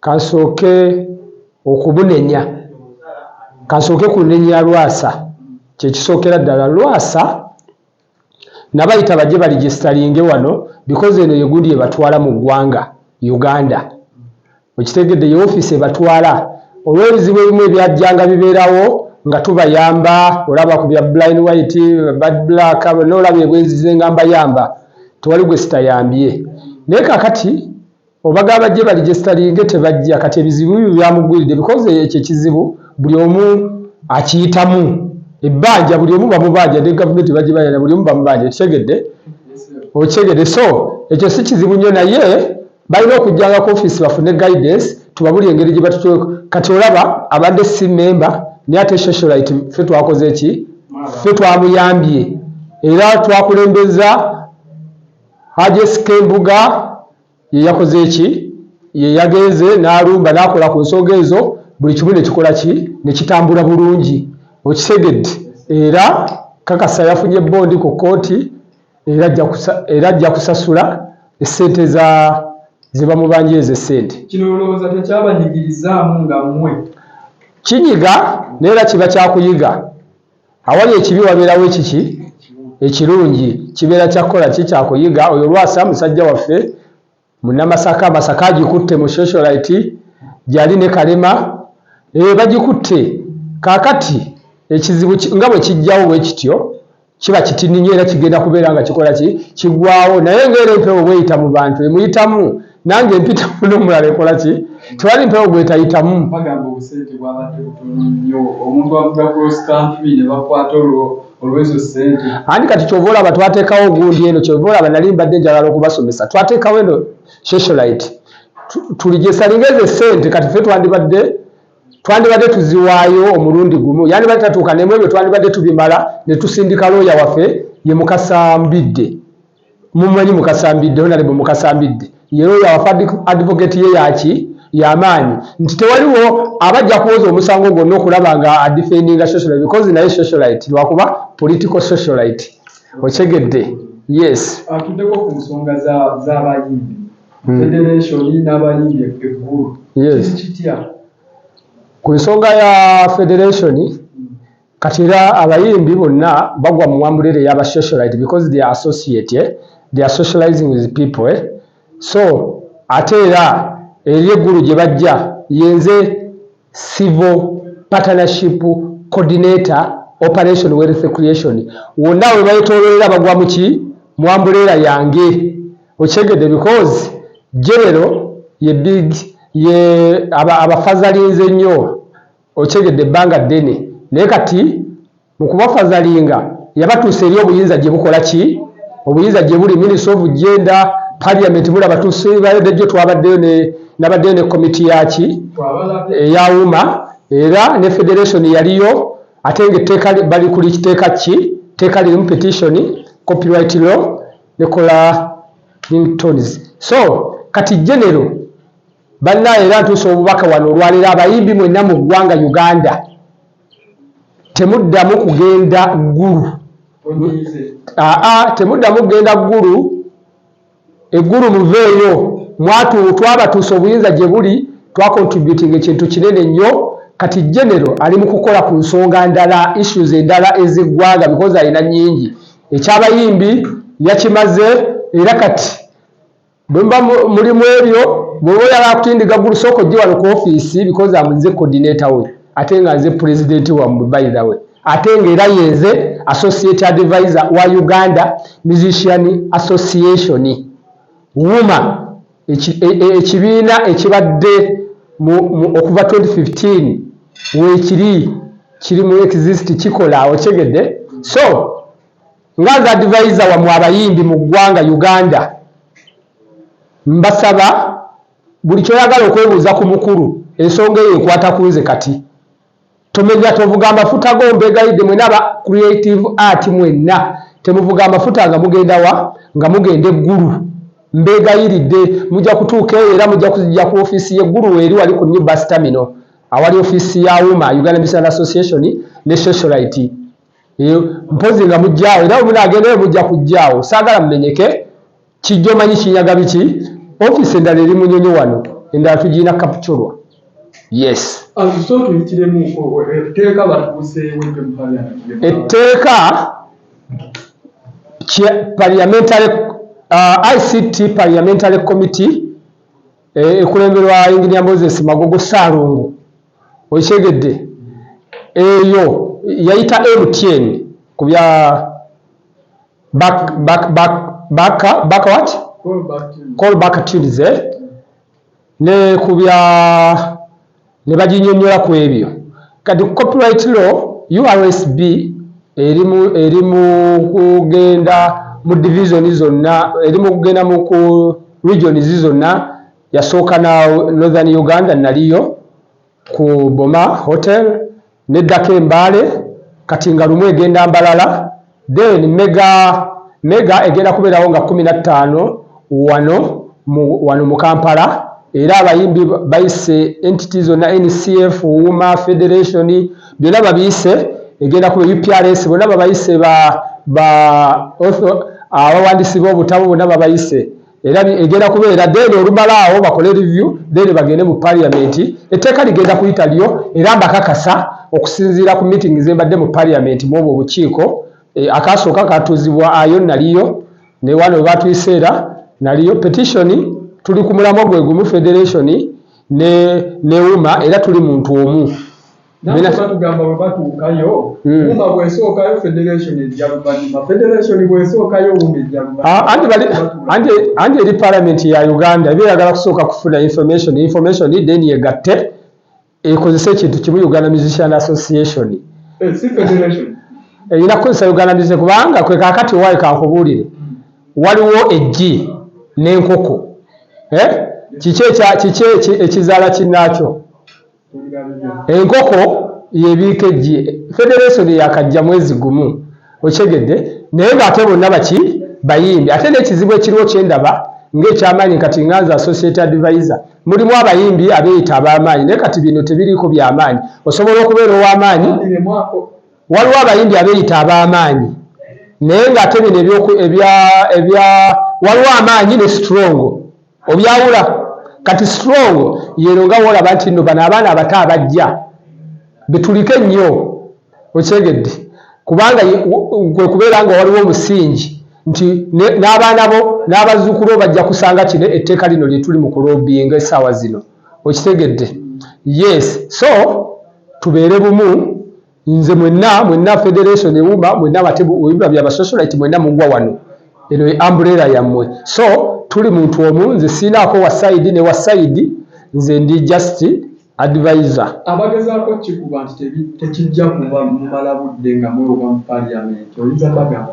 Kansooke okubunenya. Kansooke ku nenya ya Lwasa. Kye kisookera ddala. Lwasa nabayita bajje baligisteringe wano because eno yegundi ebatwala mu ggwanga Uganda. Okitegedde? Ye office ebatwala. Olw'ebizibu ebimu ebyajjanga bibeerawo nga tubayamba, olaba ku bya Blind White, Bad Black, bonna olaba ebwenzi ze nga mbayamba. Tewali gwe sitayambye. Naye kakati. Obaga bajje bali gestalinge tebajja kati ebizibu byo byamugwiride because ekyo ekizibu buli omu akiyitamu ebbanja buli omu bamubanja ne government bajje bayana buli omu bamubanja okitegedde okitegedde so ekyo si kizibu nnyo naye balina okujjanga ku office bafune guidance tubabuli engeri gye batutu kati olaba abadde si member naye ate socialite fe twakoze ki fe twamuyambye era twakulembeza Hajj SK Mbuga ye yakoze ki? Ye yagenze n'alumba n'akola ku nsonga ezo buli kimu ne kikola ki? Ne kitambula bulungi. Okitegedde? Era nkakasa yafunye bbondi ku kkooti era ajja kusasula essente za ze bamubanja ezo essente. Kino olowooza tekyabanyigirizzaamu nga mmwe? Kinyiga naye era kiba kya kuyiga. Awali ekibi wabeerawo ekiki? Ekirungi. Kibeera kya kukola ki? Kya kuyiga. Oyo Lwasa musajja waffe Munnamasaka. Masaka agikutte mu Socialite gyali ne Kalema. Eeh bagikutte. Kaakati ekizibu nga bwe kijjawo bwe kityo, kiba kitini nnyo era kigenda kubeera nga kikola ki? Kigwawo. Naye nga era empewo bw'eyita mu bantu emuyitamu. nange mpita muno omulala ekola ki tewali mpewo gwetayitamu bagamba obusente bwabadde butono nnyo omuntu avuga cross country ne bakwata olwo olwezo sente ani kati kyova olaba twateekawo ogundi eno kyova olaba nali mbadde njagala okubasomesa twateekawo eno socialite tulijesalinga ezo sente kati fe twandibadde twandibadde tuziwaayo omulundi gumu yandibadde tatuuka nemu ebyo twandibadde tubimala ne tusindika looya waffe ye mukasambidde Mumumanyi Mukasambidde, Honourable Mukasambidde ye looya wafe advocate ye yaki yamaanyi nti tewaliwo aba ajja kuwoza omusango gwonna okulaba nga adefendinga socialite because naye socialite lwakuba political socialite okyegedde yes atudeko ku nsonga z'abayimbi hmm. federation n'abayimbi eggulu kiri kitya ku nsonga ya federation Kati era abayimbi bonna bagwa mu wamburera eya ba socialite because they are associate they are socializing with people eh so ate era eri eggulu gye bajja yenze civil partnership coordinator operation wealth creation wonna we bayetoololera bagwa mu ki mu wamburera yange okyegedde because genero ye big ye abafazalinze nnyo. Okitegedde ebbanga ddene naye kati mukubafazalinga yabatuusa eri obuyinza gyebukola ki? Obuyinza gyebuli ministry of gender, parliament bula batuusa ebade jo twabaddeyo ne nabaddeyo ne committee yaki eya wuma era ne federation yaliyo ate nga etteeka bali kuli kiteeka ki tteeka lirimu petition copyright law nekola ringtones so kati genero Bannaaye era ntuusa obubaka wano olwaleero abayimbi mwenna mu ggwanga Uganda temuddamu kugenda Ggulu aa temuddamu kugenda Ggulu eggulu muveeyo mwatu twabatuusa obuyinza gye buli twakontributinga ekintu kinene nnyo kati genero ali mu kukola ku nsonga ndala issues endala ez'eggwanga bikozi alina nnyingi ekyabayimbi yakimaze era kati Bwemba muli mwebyo bwoba oyala kutindiga gulu soko jji wano ku office because am nze coordinator we ate nga nze president wa mwe by the way ate nga era yenze associate advisor wa Uganda musician association wuma ekibiina e, e, ekibadde okuva 2015 wekiri kiri mu exist kikola okyegedde so Nga nze advisor wamwe abayimbi mu ggwanga Uganda mbasaba buli kyoyagala okwebuuza ku mukulu ensonga eyo ekwata kunze kati tomenya tovuga amafuta go mbegayidde mwena aba creative art mwenna temuvuga amafuta nga mugenda wa nga mugenda eggulu mbegayiridde mujja kutuuka eyo era mujja kuzijja ku ofiisi y'eggulu weeri wali ku new bus terminal awali ofiisi ya uma Uganda Missionary Association ne Socialite mpozi nga mujjaawo era wemuna agendayo mujja kujjaawo saagala mumenyeke kijjo manyi kinyaga biki office endala eri munyonyo wano endala tugirina kapchorwa yes etteeka parliamentary uh, ict parliamentary committee eh, ekulemberwa enginia moses magogo saalongo Okitegedde eyo yayita MTN ku bya back back back back back what call back tunes eh? ne ku bya ne baginyonyola ku ebyo kati ku copyright law URSB eri mu eri mu kugenda mu division zonna eri mu kugenda mu ku regions zonna yasooka na northern uganda naliyo ku boma hotel neddako embaale kati nga lumu egenda mbalala then mega mega egenda kubeerawo nga kumi na ttaano wano mu wano mu kampala era abayimbi bayise entity zonna ncf wuma federation byonna babiyise egenda kuba uprs bonna babayise ba ba abawandiisi b'obutabo bonna babayise era egenda kubeera then olumala awo bakole review then bagende mu parliament etteeka ligenda kuyita lyo era mbakakasa okusinziira ku meeting zembadde mu parliament mwobwo obukiiko e, akasooka katuuzibwa ayo naliyo newano webatuyiseera naliyo petition tuli ku mulamwa gwe gumu federation ne neuma era tuli muntu omu batugamba bwe batuukayo hmm. wuma bwesookayo federation ejja luvannyuma federation bwesookayo wuma ejja luvannyumaanti ah, eri parliament ya uganda eba eyagala kusooka kufuna information information then yegatte ekozesa ekintu kimu uganda musician association eh, erina kukozesa uganda musician kubanga kwe kakati owaayo kankubuulire waliwo eggi n'enkoko eh? kiki ekizaala kinnaakyo Enkoko yebiika eggi federation yakajja mwezi gumu okitegedde naye nga ate bonna baki bayimbi ate nekizibu ekiriwo kyendaba nga ekyamaanyi kati nga nze associate adviser mulimu abayimbi abeyita abamaanyi naye kati bino tebiriiko byamaanyi osobola okubeera owamaanyi waliwo abayimbi abeyita abamaanyi naye nga ate bino ebya waliwo amaanyi ne strongo obyawula kati strong yero nga wolaba nti no bana abaana abato abajja betulike nnyo okyegedde kubanga kwe kubeera nga waliwo omusingi nti n'abaana bo n'abazzukulu bo bajja kusanga kino etteeka lino lye tuli mu kulobinga essaawa zino okitegedde yes so tubeere bumu nze mwenna mwenna federation ewuma mwenna batebuyumba bya basosolite mwenna mugwa wano eno ye umbrella yammwe so tuli muntu omu nze siinaako wa side ne wa side nze ndi just advisor abagezaako kikuba nti tekijja kuba mumala budde nga mwewoga mu parliament oyinza bagamba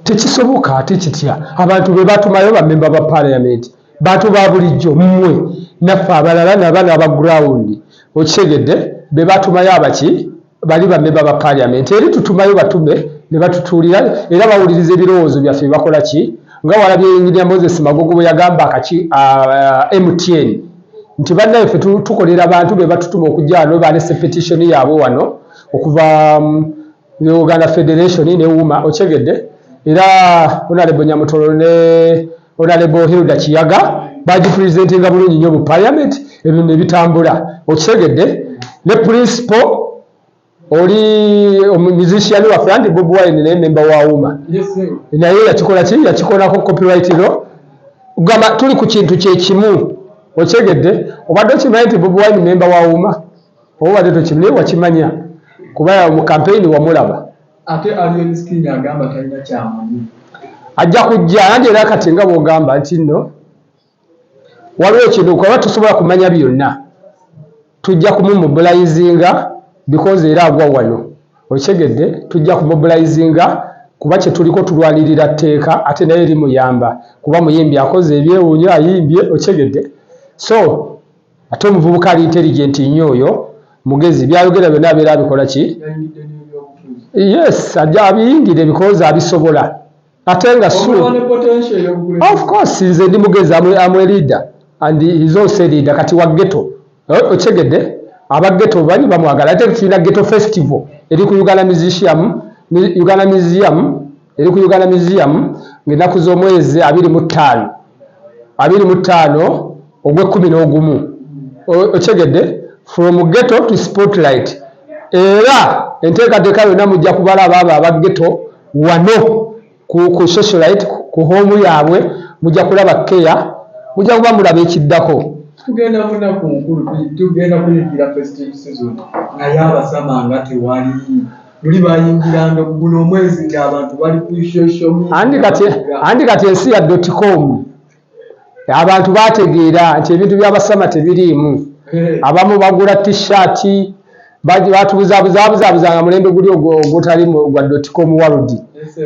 tekisoboka ate kitya abantu bebatumayo bamemba ba parliament Bantu ba bulijjo mmwe naffe abalala nabano aba ground okitegedde bebatumayo abaki bali ba member ba parliament eri tutumayo batume nebatutuulira era bawuliriza ebirowoozo byaffe bakola ki nga walabye engineer Moses Magogo bweyagamba akaki uh, MTN nti bannaye ffe tukolera bantu bebatutuma okujja wano balese petition yaabwe wano okuva um, ne Uganda Federation ne UMA okyegedde era Honorable Nyamutoro ne Honorable Hilda Kiyaga baji presentinga bulungi nnyo mu parliament ebintu ne bitambula okyegedde ne principal oli musician wa Frank Bob Wine ne member wa UMA naye yakikola ki yakikola ko copyright ro gamba tuli ku kintu kye kimu okyegedde obadde okimanyi nti Bob Wine member wa UMA obubadde tokimnaye wakimanya kuba mu kampeyini wamulaba ate alien skin agamba talina kyamanyi ajja kujja nanti era kati nga bwogamba nti nno waliwo ekintu kuba tusobola kumanya byonna tujja kumumubulayizinga bikozi era agwa wano okitegedde tujja kumubulayizinga kuba kyetuliko tulwanirira tteeka ate naye eri muyamba kuba muyimbi akoze ebyewuunyo ayimbye okitegedde so Ate omuvubuka ali intelligent nnyo oyo mugezi byayogera byonna abeera abikola ki? Yes, ajja abiyingire because abisobola ate nga sure. Of course nze ndi mugezi am a leader and he's also a leader kati wa ghetto. Eh, Okitegedde? Aba ghetto bali bamwagala ate tulina ghetto festival eri ku Uganda Museum, Uganda Museum eri ku Uganda Museum ng'ennaku z'omwezi abiri mu ttaano abiri mu ttaano ogw'ekkumi n'ogumu okitegedde from ghetto to spotlight era enteekateeka yonna mujja kubala abaabo aba ghetto wano ku socialite ku hoomu yaabwe mujja kulaba keya mujja kuba mulaba ekiddako tugenda munaku nkulu tugenda kuyingira festive season naye abasama nga tewali luli bayingira ndoguno omwezi nga abantu bali ku social media andi kati andi kati ensi ya dot com abantu bategeera nti ebintu bya basama tebiriimu eh. abamu bagula t-shirt batubuzabuzabuzabuza nga mulembe guli ogutali gwa dot com world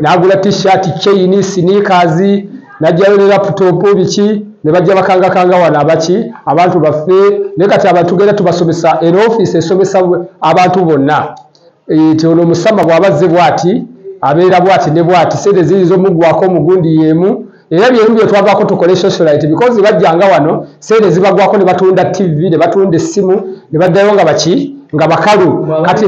nagula t-shirt chain sneakers najjayo ne laptop biki ne bajja bakangakanga wano abaki abantu baffe naye kati abantu genda tubasomesa era ofiisi esomesa abantu bonna Eh, nti ono musama bw'aba azze bw'ati abeera bw'ati ne bw'ati, ssente ziyinza omuggwaako mu gundi y'emu era bye bimu bye twavaako tukole socialite because bajjanga wano ssente zibagwako ne batunda ttivi ne batunda essimu ne baddayo nga baki nga bakalu kati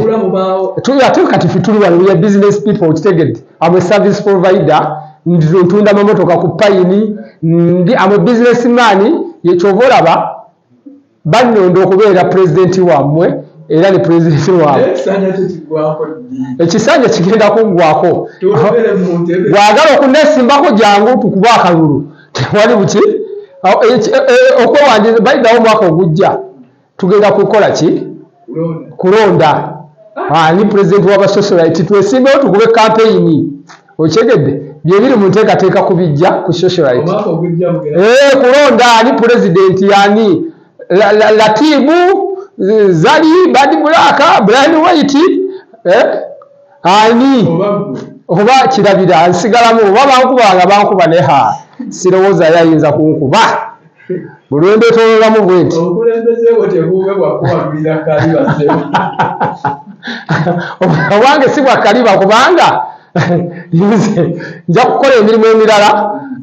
tuli ate kati ffe tuli wano we are business people okitegedde am a service provider ntunda mamotoka ku payini ndi am a business man ye kyova olaba bannonda okubeera pulezidenti wammwe era ne pulezidenti waabwe ekisanja kigenda kungwako bwagala okunesimbako jangu tukuba akalulu tewali buki e, e, okwewandiza bayidawo omwaka ogujja tugenda kukola ki kulonda ani president wabasosolite twesimbewo tukube kampeyini okyegedde byebiri mu nteekateeka ku bijja ku socialite eh, kulonda ani pulezidenti yani latibu zali badi bulaka brian white eh? ani oba kirabira nsigalamu oba bankuba nga bankuba ne ha sirowooza yo ayinza kunkuba bulwendetololamu bwenti obwange si bwakaliba kubanga nze nja kukola emirimu emirala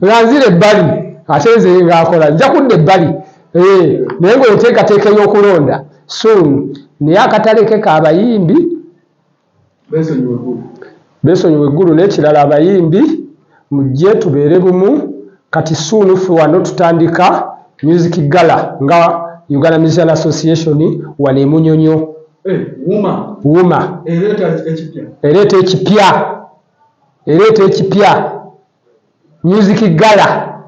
nga nzira ebbali ate nze ngaakola nja kudda ebbali eh, naye ngaoteekateeka ey'okulonda suunu naye akataleke kaabayimbi besonyiwe eggulu nekirala abayimbi mujje tubeere bumu kati soon ffe wano tutandika music gala nga Uganda Musician Association wano emunyonyo eh, wuma ereeta ekipya ereeta ekipya music gala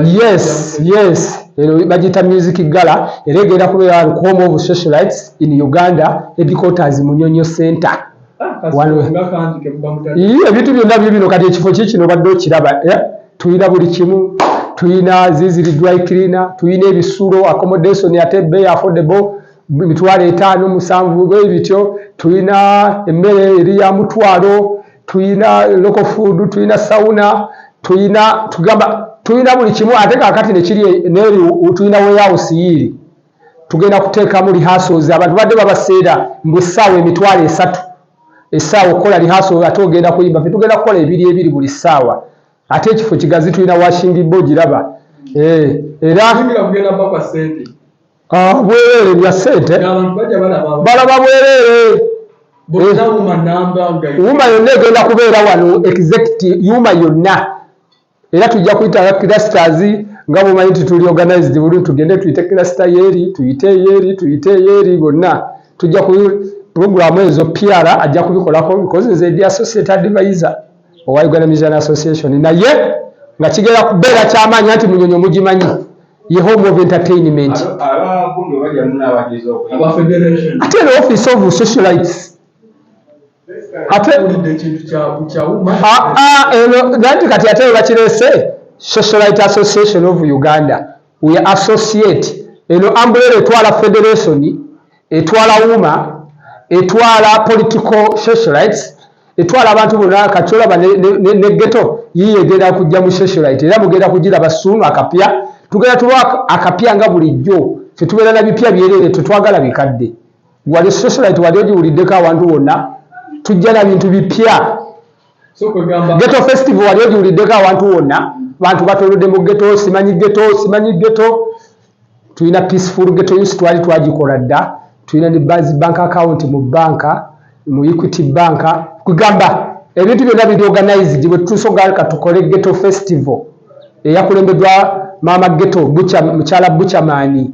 yes yes ero bagiyita music gala era egenda kubeera wano kuhome of socialites in uganda headquarters munyonyo center ah, ebintu byonna byo bino kati ekifo ki kino badde okiraba eh? tulina buli kimu tulina ziziri dry cleaner tulina ebisulo accommodation ate bay affordable mitwalo etaano musanvu ebityo tulina emmere eri ya mutwalo tuyina local food tuyina sauna tuyina tugamba tuyina buli kimu ate kakati nekiri neri tuyina warehouse yiri tugenda kuteekamu rehearsals abantu badde babaseera mbu essaawa emitwalo esatu essaawa okukola rehearsal ate ogenda kuyimba fe tugenda kukola ebiri ebiri buli ssaawa ate ekifo kigazi tulina washingi bo giraba eh, era Ah, bwerere bya sente balaba bwerere yuma yonna egenda kubeera wano executive yuma yonna era tujja kuyita clusters nga bwomanyi nti tuli organized buli tugende tuyite cluster yeeri tuyite yeeri tuyite yeeri bonna tujja ku pulogulaamu ezo piara ajja kubikolako because nze ndi associate advisor owa uganda mission association naye nga kigera kubeera kyamaanyi nti munyonyi omugimanyi ye home of entertainment ate the office of socialites ate nanti kati ate webakirese socialite association of uganda we associate eno ambulera etwala federation etwala wuma etwala political socialites etwala abantu bonna kati olaba ne geto yiye egenda kujja mu socialite era mugenda kugiraba suunu akapya tugenda tuba akapya nga bulijjo tetubeera na bipya byereere tetwagala bikadde wali socialite wali ogiwuliddeko awantu wonna tujja na bintu bipya Ghetto festival wali ogiwuliddeko awantu wonna bantu batolodde mu ghetto simanyi ghetto simanyi ghetto tulina peaceful ghetto use twali twagikola dda tulina ne bas bank account mu banka mu equity banka kugamba ebintu byonna biri organized bwe tusogalka tukole ghetto festival eyakulembeddwa maama ghetto mukyala buchamani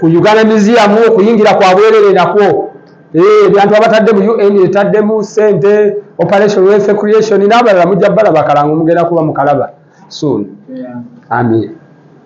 ku Uganda Museum okuyingira kwa bwerere nakwo eh, ebyantu abatadde mu UN etaddemu sente operation wealth creation n'abalala mujja balaba kalango mugenda kuba mukalaba soon amin